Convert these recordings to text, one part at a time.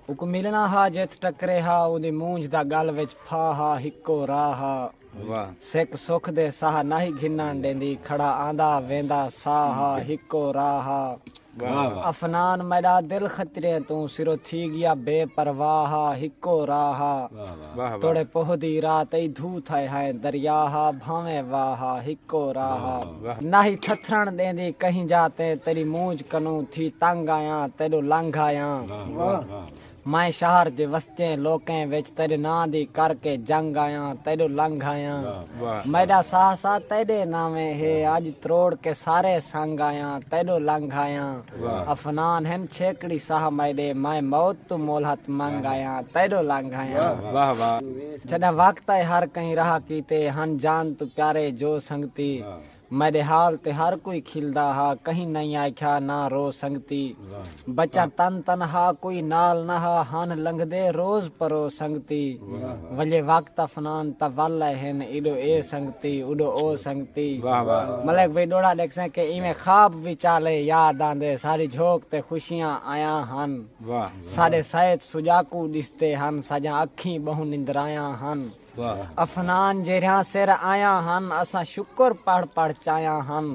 اکوں ملنا ہا جتھ ٹکرے ہا اوندی مونجھ دا گل وچ پھا ہا ہکو را ہا سک سکھ دے ساہ ناہی گھنن ڈیندی کھڑا آندا ویندا سا ہا ہکو را ہا افنان میڈا دل خطریں توں سرو تھی گیا بے پرواہ ہا ہکو را ہا توڑے پوہ دی رات ای دھو تھئے ہائیں دریا ہا بھانویں واہ ہا ہکو راہ ہا ناہی تھتھرن ڈیندی کہیں جا تے تیڈی مونجھ کنوں تھی تنگ آیاں تیڈو لنگھ آیاں مائیں شہر جے وسجیں لوکیں وچ تیڈے ناں دی کر کے جنگ آیاں تیڈو لنگھ آیاں میڈا ساہ ساہ تیڈے ناویں ہے اج تروڑ کے سارے سنگ آیاں تیڈو لنگھ آیاں۔ افنان ہن چھیکڑی ساہ میڈے میں موت توں مولہت منگ آیاں تیڈو لنگ آیاں چھڈاں وقت ائے ہر کہیں راہ کیتے ہن جان توں پیارے جو سنگتی میڈے حال تے ہر کوئی کھلدا ہا کہیں نئیں آکھیا نہ رو سنگتی بچاں تن تنہا کوئی نال نہ ہا ہن لنگھدے روز پرو سنگتی۔ ولے وقت افنان تولے ہن ایڈو اے سنگتی اوڈو او سنگتی ملک وی ڈوڑا ڈیکھسیں کہ ایویں خواب وچالے یاد آندے ساڈی جھوک تے خوشیاں آیاں ہن ساڈے سیت سجاکو ڈسدے ہن ساجاں اکھیں بہوں نندرایاں ہن افنان جیرھیاں سر آیاں ہن اساں شکر پڑھ پڑھ چایاں ہن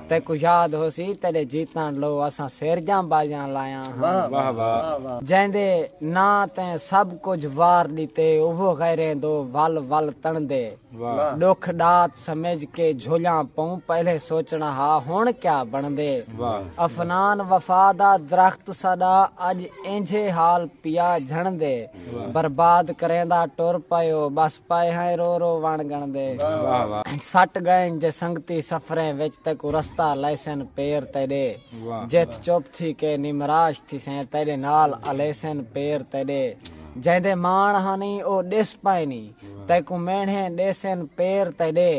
تیکوں یاد ہوسی تیڈے جیتن لو اساں سیرجاں بازیاں لایاں واہ واہ۔ جیندے ناں تیں سب کجھ وار ڈتے اوہو غیریں دو ول ول تنڑدے ڈکھ ڈات سمجھ کے جھولیاں پوں پہلے سوچنا ہا ہن کیا بنڑدے افنان وفا دا درخت ساڈا اج اینجھے حال پیا جھنڑدے برباد کریندا ٹر پئیو بس پئے ہیں رو رو وݨ گنڑدے سٹ گئن جے سنگتی سفریں وچ تیکوں رستہ لیسن پیر تیڈے۔ جتھ چپ تھی کے نمراش تھیسیں تیڈے نال الیسن پیر تیڈے جیندے ماݨ ہانی او ڈس پائنی تیکوں مینڑھیں ڈیسن پیر تیڈے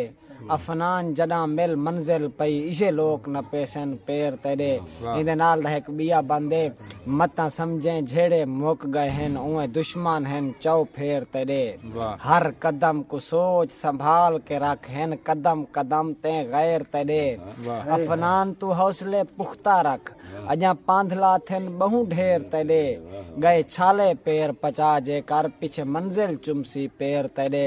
افنان جڈاں مل منزل پئی ایجھے لوک نپیسن پیر تیڈے ایندے نال دا ہک بیا بند اے متاں سمجھیں جھیڑے مک گئے ہن اوئیں دشمن ہن چؤ پھیر تیڈے ہر قدم کوں سوچ سنبھال کے رکھ ہن قدم قدم تیں غیر تیڈے افنان توں حوصلے پختہ رکھ اجاں پاندھلا تھن بہوں ڈھیر تیڈے گئے چھالے پیر پچا جے کر پچھے منزل چمسی پیر تیڈے۔